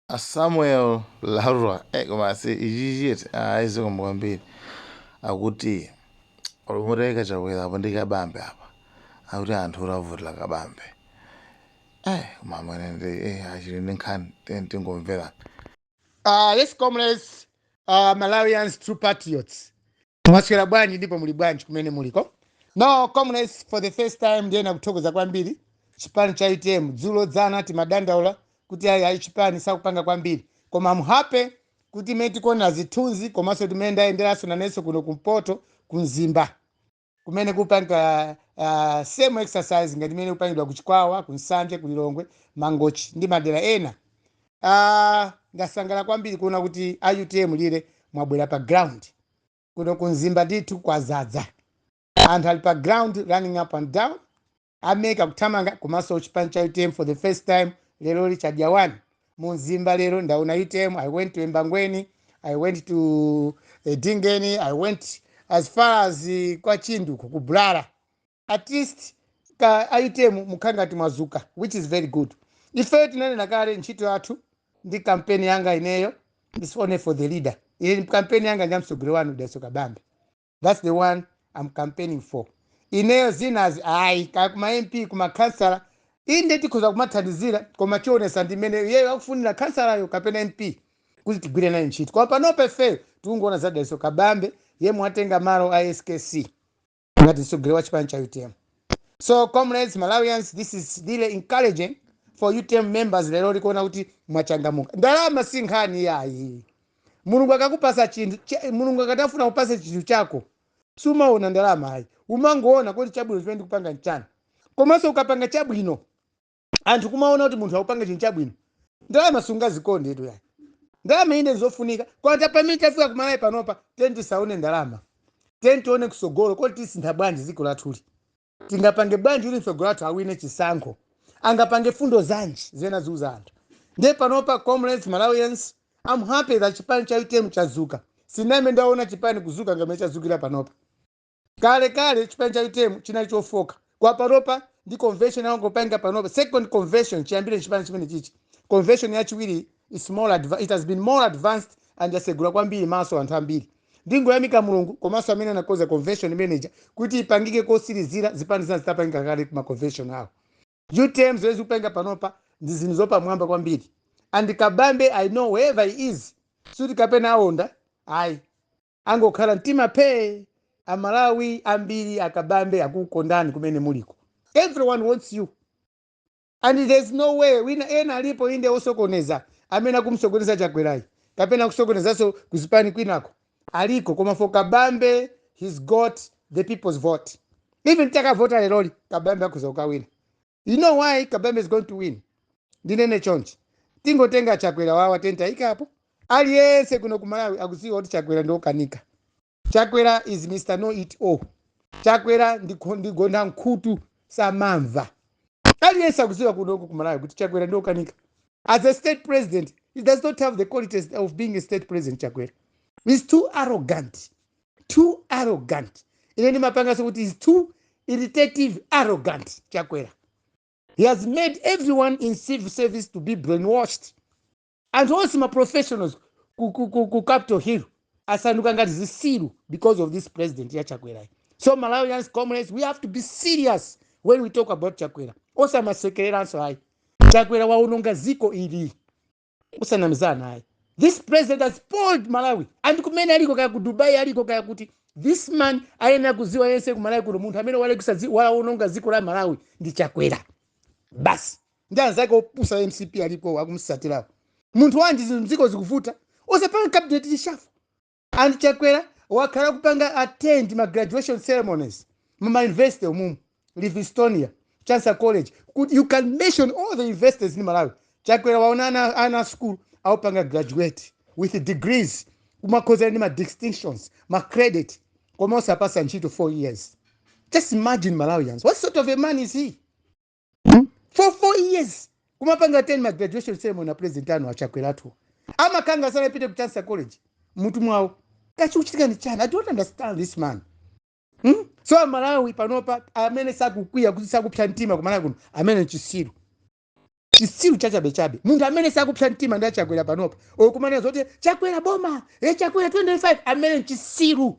A Samuel Lwara eh, komanso ichichi eti ayi zikomo kwambiri akuti olumuteka chakwera apo ndi kabambe apa akuti anthu olavutira kabambe eh koma amene ndi eh achili ndi nkhani ten tingomvera Uh, yes, comrades, uh, Malawians, true patriots. mwaswera bwanji ndipo muli bwanji kumene muliko no comrades for the first time ndiyena kuthokoza kwambiri chipani cha utm dzulo dzana timadandaula kuti ayi ayi chipani sichikupanga kwambiri koma I'm happy kuti imene tikuonera zithunzi komanso mmene ndayenderanso nanenso kuno kumpoto ku mzimba akumene kupanga uh, same exercise ngati imene ikupangidwa ku chikwawa ku nsanje ku lilongwe mangochi ndi madera ena Ah, ndasangala kwambiri kuona kuti a utm lero mwabwera pa ground kuno ku mzimba ndithu kwazadza anthu ali pa ground running up and down ameka kuthamanga komanso chipani cha utm for the first time lero lichadya one mu mzimba lero ndaona utm i went to embangweni i went to eh, Edingeni i went as far as eh, kwa chindi ku bulala at least a utm mukukhala ngati mwadzuka which is very good ifeyo tinanena kale ntchito yathu ndi kampeni yanga ineyo is only for the leader ine kampeni yanga nja mtsogoleri wanu dalitso kabambe that's the one i'm campaigning for ineyo zinazi ayi kaya kuma mp kuma kansala inde tikhoza kumathandizira koma zionetsa ndi mmene iyeyo akufunira kansalayo kapena mp kuti tigwire naye ntchito koma panopa ifeyo tikungoona za dalitso kabambe yemwe watenga malo a skc ngati mtsogoleri wa chipani cha utm so comrades malawians this is really encouraging for utm members lero tikuona kuti mwachangamuka ndalama si nkhani yayi mulungu akakupatsa chinthu cha- mulungu akatafuna kukupatsa chinthu chako sumaona ndalama ayi umangoona kuti chabwino chimene ndikupanga nchani komanso ukapanga chabwino anthu kumaona kuti munthu akupanga chinthu chabwino ndalama sungazikonde tu yayi ndalama inde nzofunika koma pamene tafika kumalawi panopa tiyeni tisaone ndalama tiyeni tione kutsogolo kuti tisintha bwanji dziko lathuli tingapange bwanji kuti mtsogoleri wathu awine chisankho angapange mfundo zanji zoti aziuza anthu ndiye panopa comrades malawians I'm happy that chipani cha utm chadzuka sindinambe ndaona chipani kudzuka ngati mmene chadzukira panopa kale kale chipani cha utm chinali chofooka koma panopa ndi convention angopanga panopa second convention chiyambire chipani chimene chichi convention yachiwiri is more adva- it has been more advanced and yasegula kwambiri maso anthu ambiri ndingoyamika mulungu komanso amene anakonza convention imeneyi kuti ipangike kotsirizira zipani zina zitapangika kale kuma convention awo utm zimene ikupanga panopa ndi zinthu zapamwamba kwambiri and kabambe i know wherever he is suti kapena aonda ayi Angokhala mtima phee amalawi ambiri akabambe akukondani kumene muliko everyone wants you and there's no way wina ena alipo inde osokoneza amene akumsokoneza chakwerayi kapena akusokonezanso kuzipani kwinako aliko koma for kabambe he's got the people's vote even takavota leroli kabambe akhoza kukawina you know why kabambe is going to win ndinene chonchi tingotenga chakwera wawa tentayikapo aliyense kuno ku malawi akudziwa kuti chakwera ndiokanika chakwera is mr know it all chakwera ndikho- ndigonda nkhutu samamva aliyense akudziwa kunoko ku malawi kuti chakwera ndiokanika as a state president he does not have the qualities of being a state president chakwera is too arrogant too arrogant ine ndimapanganso kuti he's too irritative arrogant chakwera he has made everyone in civil service to be brainwashed anthu onse maprofessionals ku, ku, ku, ku capital hill asanduka ngati zisiru because of this president ya chakwerayi so malawians comrades we have to be serious when we talk about chakwera osamasekereranso ayi chakwera waononga ziko ili osanamizana ayi this president has spoiled malawi and kumene aliko kaya ku dubai aliko kaya kuti this man ayenera kuziwa aliyense ku malawi kuno munthu amene walekisa dzi- waononga dziko la malawi ndi chakwera basi ndi anzake opusa a mcp alipo akumsatirawo munthu wanji zinthu mdziko zikuvuta osapanga cabinet reshuffle And Chakwera wakhala akupanga attend ma graduation ceremonies mu ma university umumu Livingstonia, Chancellor College. kuti you can mention all the universities in Malawi. Chakwera waona ana a school akupanga graduate with degrees kumakhoza ndi ma distinctions, ma credit koma osawapasa ntchito 4 years. Just imagine Malawians. What sort of a man is he? hmm? for four years kumapanga attend ma graduation ceremony na president anu achakwerawa tu amakhala ngati sanapite ku chancellor college mutu mwawo kaya chikuchitika ni chani i don't understand this man hmm? so amalawi panopa amene sakukwiya kuti sakupsa mtima kumalawi kuno ameneyo nchisiru chisiru chachabechabe munthu amene sakupsa mtima ndi achakwera panopa okumanena zoti chakwera boma e chakwera 25 ameneyo nchisiru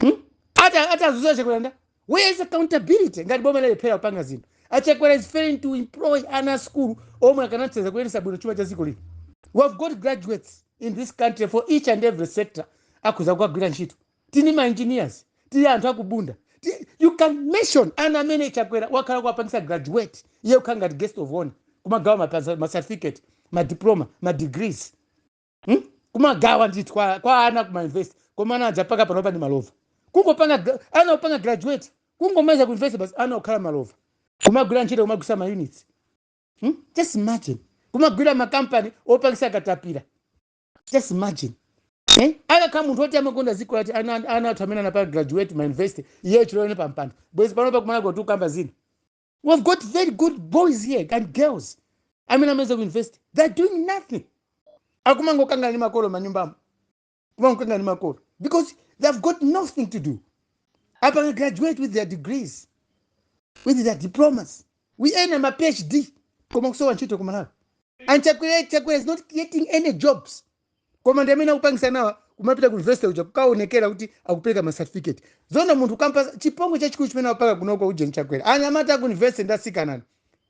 Hmm? ati ati azuza achakwera nda where is accountability ngati boma lalephera kupanga zinthu achakwera is failing to employ ana a skulu omwe akanathandiza kuyendetsa bwino chuma cha dziko lino we have got graduates in this country for each and every sector akhoza kukagwira ntchito tili ni ma engineers tili ni anthu akubunda Ti- you can mention ana amene chakwera wakhala kuwapangisa graduate iye kukhala ngati guest of honor kumagawa mapasa- ma certificate madiploma madegrees hmm? kumagawa ndithu kwa, kwa ana kuma university koma ana aja paka panopa ndi malova kungopanga gra- ana kupanga graduate kungomaliza ku university basi ana kukhala malova kumagwira ntchito kumagulisa ma units hmm? just imagine kumagwira makampani opangisa katapira just imagine Eh? akakhala munthu oti amakonda dziko lati ana ana athu amene anapanga graduate ma university iye chilowere pampando bwezi panopa kumalawiko tikukamba zina We have got very good boys here and girls amene amaliza ku university they are doing nothing akumangokangana ndi makolo manyumbamo kumangokangana ndi makolo because they have got nothing to do apanga graduate with their degrees with their diplomas ena ma phd koma kusowa ntchito kumalawi and chakwera chakwera is not creating any jobs koma ndi amene akupangisa nawa kumapita ku university uja kukaonekera kuti akupereka ma certificate zona munthu kupanga chipongwe chachikulu chimene apanga kunoko uje nchakwera anyamata ku university ndi asikana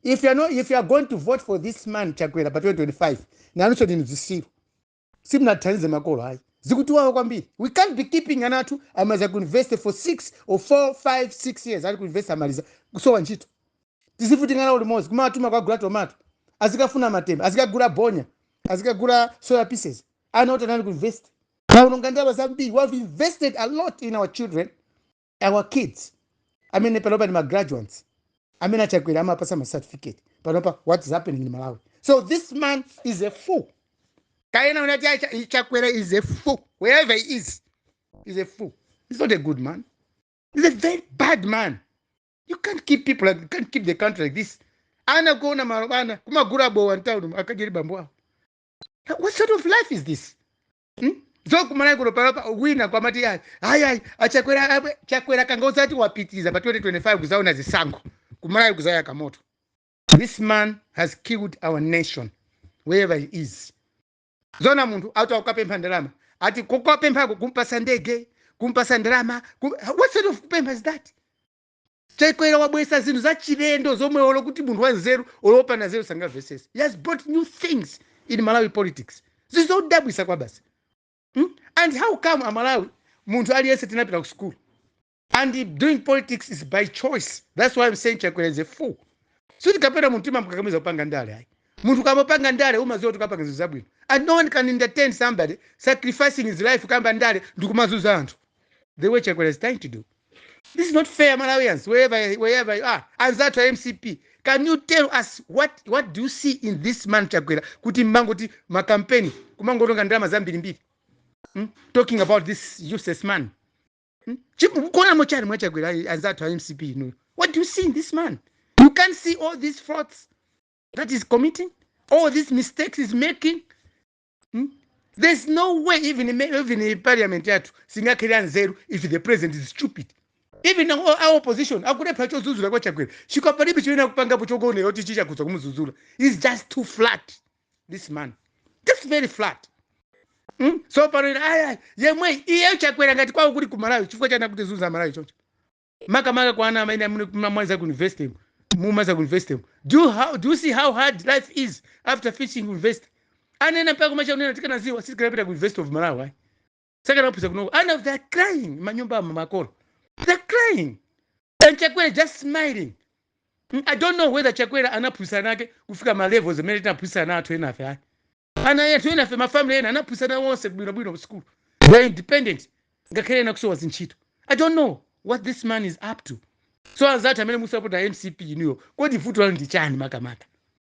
if you are not, if you are going to vote for this man chakwera pa 2025 nanunso ndinu zisiru simunathandize makolo ayi zikutiwawa kwambiri we can't be keeping ana athu amaliza ku university for 6 or 4 5 6 years ali ku university amaliza kusowa ntchito tizivutika nawo limodzi kumawatuma kukagula tomato azikafuna matemba azikagula bonya azikagula soya pieces ana oti anali ku university aononga ndalama zambiri we have invested a lot in our children our kids amene panopa ndi magraduates amene achakwera amapasa ma certificate panopa what is happening in malawi so this man is a fool kayena unati "Ah, Cha- chakwera is a fool wherever he is he's a fool he's not a good man he's a very bad man you can't keep people like, you can't keep the country like this ana kukhala malova ana kumagula bowa mtauni akajeri bambo awo what sort of life is this hmm? so kumalawi kuno panopa wina kumati ayi ayi ayi achakwera abe- chakwera akangozati wapitiriza pa 2025 kuzawina zisankho kumalawi kuzayaka moto this man has killed our nation wherever he is zona munthu ati akukapempha ndalama ati kukapemphako kumpasa ndege kumpasa ndalama kum... what sort of kupempha is that chakwera wabwesa zinthu zachilendo zomwe olo kuti munthu wanzeru olopanda nzeru sangamvesese he has brought new things in malawi politics izi zodabwisa kwabasi hmm? and how come amalawi munthu aliyense tinapita ku sukulu and doing politics is by choice that's why I'm saying chakwera is a fool sikuti kapena munthu timamukakamiza kupanga ndale ayi munthu ukamapanga ndale umaziwa kuti ukapanga zinthu zabwino and no one can entertain somebody sacrificing his life kamba ka ndale ndikumazuza anthu the way chakwera is trying to do this is not fair malawians wherever, wherever you are anzathu a mcp can you tell us what, what do you see in this man chakwera kuti mmangoti makampeni kumangoononga ndalama zambirimbiri mm? talking about this useless man Hmm? mukuonamo chani mwa chakwera anzathu a mcp inu what do you see in this man you can't see all these frauds that he's committing all these mistakes he's making hmm? there's no way even even parliament yathu singakhale yanzeru if the president is stupid even our opposition akulepha chozuzula kwa chakwera chikwa palibe chimene akupangapo choonetsa kuti chikukhudza kumuzuzula he's just too flat this man just very flat mm? so pano inu ayi iyeyo iye chakwera ngati kwawo kuli ku malawi chifukwa chani akutizunza amalawi choncho makamaka kwa ana amene amene mumamaliza ku university mu- mumaliza ku university mu. do you, how, do you see how hard life is after finishing university ana ena mpaka kumachita kunena tikanaziwa sitikanapita ku university of malawi ayi. sakanaphunzira kunoko and of they're crying manyumba amu makolo they're crying and chakwera just smiling mm, i don't know whether chakwera anaphunzitsa ana ake kufika ma levels amene tinaphunzitsa ana athu enafe ayi ana athu enafe mafamily ena anaphunzitsa ana awo onse bwinobwino school they're independent ngakhale ena kusowa zintchito i don't know what this man is up to so anzathu amene mukusapota mcp inuyo kodi vuto lanu ndi chani makamaka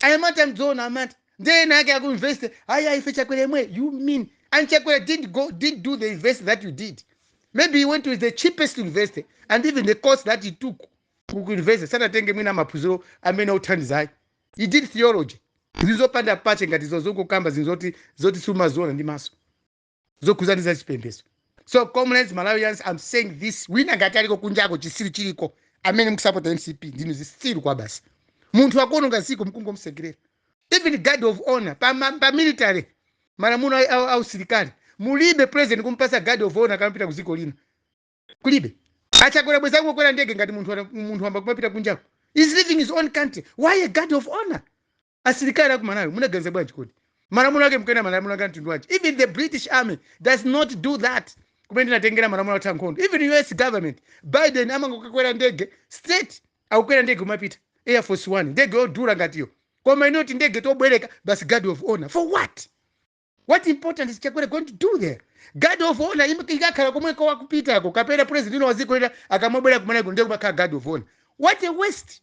anyamata anzeru anyamata nde ena ake aku university ayi ayi ife chakwera yemweyo you mean and chakwera didn't go didn't do the university that you did maybe he went to the cheapest university and even the course that he took ku ku university sanatenge mwina maphunziro amene othandizayo he did theology zinthu zopanda pake ngati izo zongokamba zinthu zoti zoti sumaziona ndi maso zokhudzana za chipembedzo so comrades malawians i'm saying this wina ngati aliko kunjako chisiru chiliko amene mukusapota mcp ndinu zisiru kwabasi munthu akuononga ziko mukungomsekerera even guard of honor pa, ma- pa military malamulo a- a- a usilikali mulibe president kumpasa guard of honor akamapita ku dziko lina kulibe achakwera bwenzi akungokwera ndege ngati munthu ana- munthu wamba kumapita kunjako he's leaving his own country why a guard of honor asilikali aku malawi munaganiza bwanji kodi malamulo ake mkuyenda malamulo ake amtundu wanji even the british army does not do that kumene tinatengera malamulo athu ankhondo even us government biden amangokakwera ndege straight akukwera ndege kumapita air force one ndege yodula ngatiyo koma inu tindege tobwereka basi guard of honor for what what important is chakwera going to do there guard of honor im- ikakhala komweko wakupitako kapena president waziko lina akamabwera kumeneko nde kumakhala guard of honor what a waste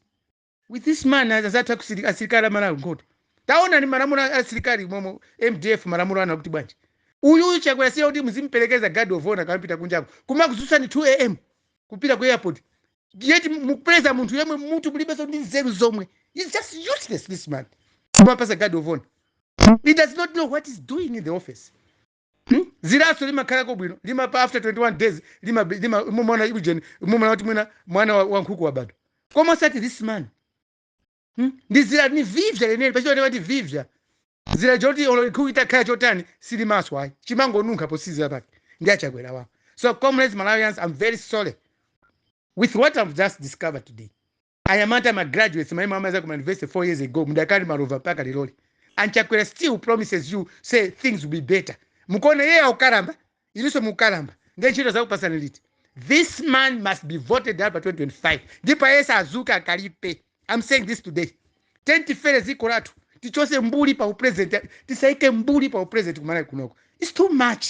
with this man anzathu asili- asilikali amalawi nkhondo taonani malamulo a- asilikali momwe mdf malamulo anu akuti bwanji uyu chakwera si wakuti muzimperekeza guard of honor akamapita kunjako kumakudzutsani 2 am kupita ku airport yet mukuperekeza munthu yemwe mmutu mulibenso ndi nzeru zomwe He's just useless this man kumampasa guard of honor he does not know what he's doing in the office Hmm? ziraso limakhalako bwino limapa after 21 days lima- lima- mumaona ujeni mumaona kuti mwina mwana wa- wa nkhuku wabadwa koma osati this man Hmm? ndi zira ni vivya leneli pa Chichewa amati vivya zira choti olo nkhuku itakhala chotani silimaswa ayi chimangonunkha posizira pake ndi a Chakwera awa so comrades malawians i'm very sorry with what i've just discovered today Anyamata ma graduates amene munamaza ku university 4 years ago mukadali malova mpaka lerolino and Chakwera still promises you say things will be better mukuona iyeyo akukalamba inuso mukukalamba ndiye ntchito azakupasani liti this man must be voted out pa 2025 ndipo ayese azuke akalipe I'm saying this today tiyeni tifere dziko lathu tichose mbuli pa upresident tisaike mbuli pa upresident kumalawi kunoko it's too much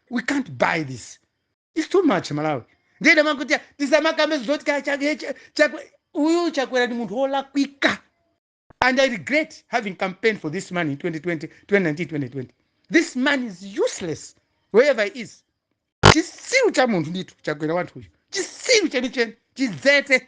we can't buy this It's too much Malawi. Ndiye nda amati tisamakambe zoti ka chakwe chakwe uyu chakwera ndi munthu olakwika. And I regret having campaigned for this man in 2020, 2019, 2020. This man is useless wherever he is. Chisiru cha munthu ndithu chakwera wanuyu. Chisiru chenicheni chidzete.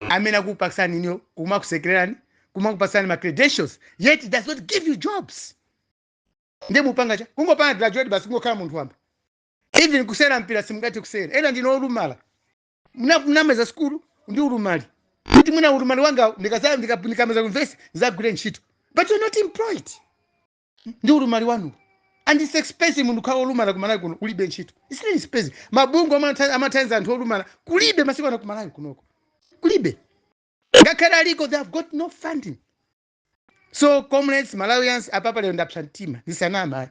amene akukupatsani inuyo kumakusekererani kumakupatsani ma credentials yet he does not give you jobs ndiye mupanga chani kungopanga graduate basi kungokhala munthu wamba even kusera mpira simungathe kusera ena ndinu olumala munamaza sikulu ndi ulumali kuti mwina ulumali wanga ndikaza- ndika- ndikamaza ku university ndizagwire ntchito but you're not employed ndi ulumali wanu and it's expensive munthu kukhala olumala ku malawi kuno kulibe ntchito it's really expensive mabungwe amatha- amathandiza anthu olumala kulibe masiku ano ku malawi kunoko kulibe ngakhale aliko they have got no funding so comrades malawians apapa lero ndapsa mtima ndisanama ayi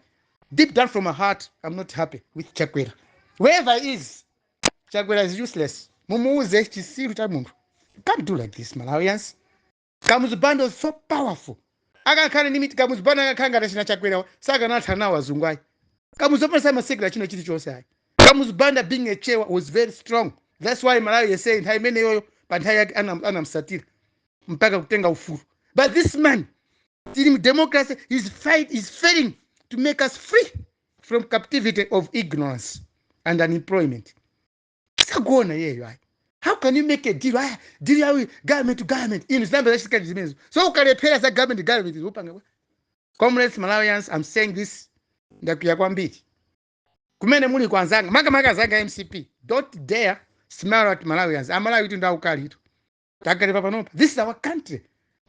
deep down from my heart i'm not happy with chakwera wherever he is chakwera is useless mumuuze chisiru cha munthu You can't do like this malawians Kamuzu Banda was so powerful. Akakhala ndi miti Kamuzu Banda akakhala ngati achina Chakwerawa, sakanathana nawo azungu ayi. Kamuzu Banda samasekera china chilichonse ayi. Kamuzu Banda being a chewa was very strong. That's why Malawi yese nthawi imeneyoyo pa nthawi yake anam- anamsatira mpaka kutenga ufulu. But this man tili mu democracy is fai- is failing to make us free from captivity of ignorance and unemployment. sakuona iyeyo ayi how can you make a deal ah deal yawo government to government inu zinayamba zachitika kuti zimenezo so akulephera za government to government kupanga bwanji comrades malawians i'm saying this ndakwiya kwambiri kumene muli kwa anzanga makamaka anzanga a mcp don't dare smile at malawians amalawi tu ndi aukalitu takale papanopa this is our country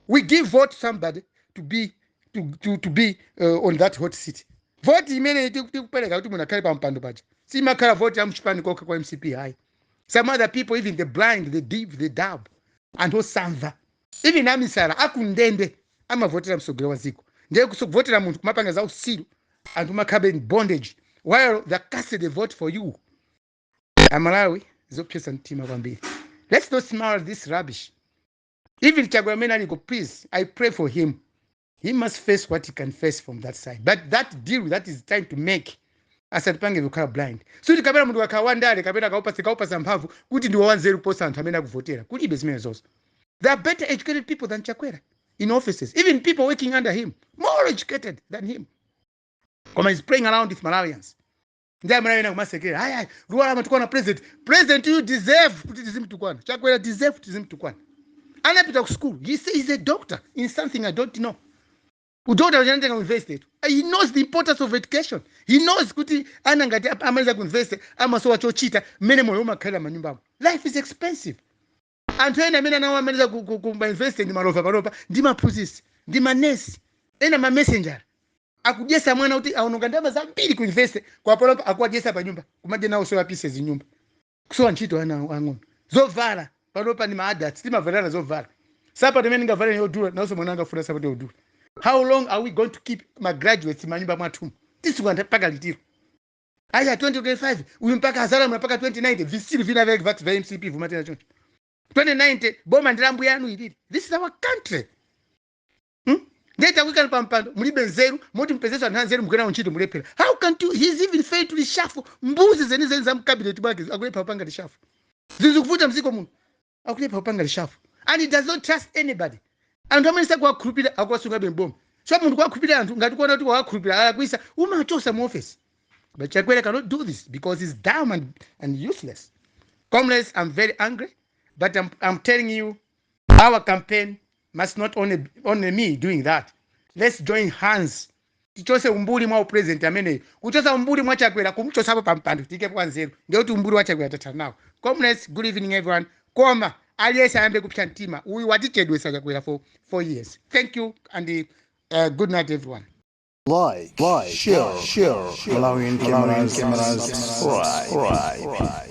we give vote somebody to be to, to, to be uh, on that hot seat voti imene tikupereka kuti munthu akhale pampando paja simakhala voti ya muchipani kokha kwa mcp hayi some other people even the blind the deaf the dumb anthu osamva even amisala akundende amavotera mtsogoleri wa dziko ndiye kuvotera munthu kumapanga za usiru anthu kumakhalabe in bondage while they casted a vote for you amalawi zopsetsa mtima kwambiri let's not smile at this rubbish even chakwera amene aliko please i pray for him he must face what he can face from that side but that deal that he's trying to make asatipange kukhala blind sikuti kapena munthu akakhala wandale kapena mukamupasa kumupasa mphamvu kuti ndiwo wanzeru kuposa anthu amene akuvotera kulibe zimenezozo there are better educated people than chakwera in offices even people working under him more educated than him koma he's playing around with malawians ndi a ena kumasekera ayi ayi Lwara amatukwana president president you deserve kuti tizimtukwana chakwera deserve tizimtukwana anapita ku school he say he's a doctor in something i don't know udokotala uja anatenga ku university tu he knows the importance of education he knows kuti ana ngati ap- amaliza ku university amasowa chochita mmene moyo umakhalira manyumbamo life is expensive anthu ena amene ana awo amaliza ku, ku, ku ma university ndi malova panopa ndi aphunzitsi ndi manesi ena ma messenger akudyesa mwana kuti aononga ndalama zambiri ku university kwa panopa akuwadyesa pa nyumba kumadya nawo soya pieces nyumba kusowa ntchito ana awo ang'ono zovala panopa ndi ma adults timavalana zovala sapato imene ndingavale yodula nawonso mwana akufuna sapato yodula how long are we going to keep ma graduates manyumba mwathumu tisunga mpaka liti ilo aya 2025 uyu mpaka azalamula mpaka 2090 visiri vina vya vati vya mcp vumatena choncho 2090 boma ndi la mbuyanu ilili this is our country hmm? ndiye takuikani pa mpando mulibe nzeru moti mupezeso anthu anzeru mugwira nawo ntchito mulephera how can you he's even failed to reshuffle mbuzi zenizeni za mkabineti mwake akulephera kupanga reshuffle zinthu zikuvuta mdziko muno akulephera kupanga reshuffle and he does not trust anybody anthu amene sakuwakhulupirira akuwasungabe m'bomamu so munthu kuwakhulupirira anthu ngati ukuona kuti wawakhulupirira alakwisa umawachosa mu office but chakwera cannot do this because he's dumb and, and useless comrades i'm very angry but I'm, i'm telling you our campaign must not only, only me doing that let's join hands tichose umbuli mwa president ameneyu kuchosa umbuli mwa chakwera kumchosapo pa mpando tiikepo wanzeru ndiye kuti umbuli wa chakwera tathana nawo comrades good evening everyone koma aliyense ayambe kupsa mtima uyu watichedwesa chakwera for 4 years thank you and uh, good night everyone Like, like, share, share, share. Malawian Cameras, Cameras, subscribe. subscribe.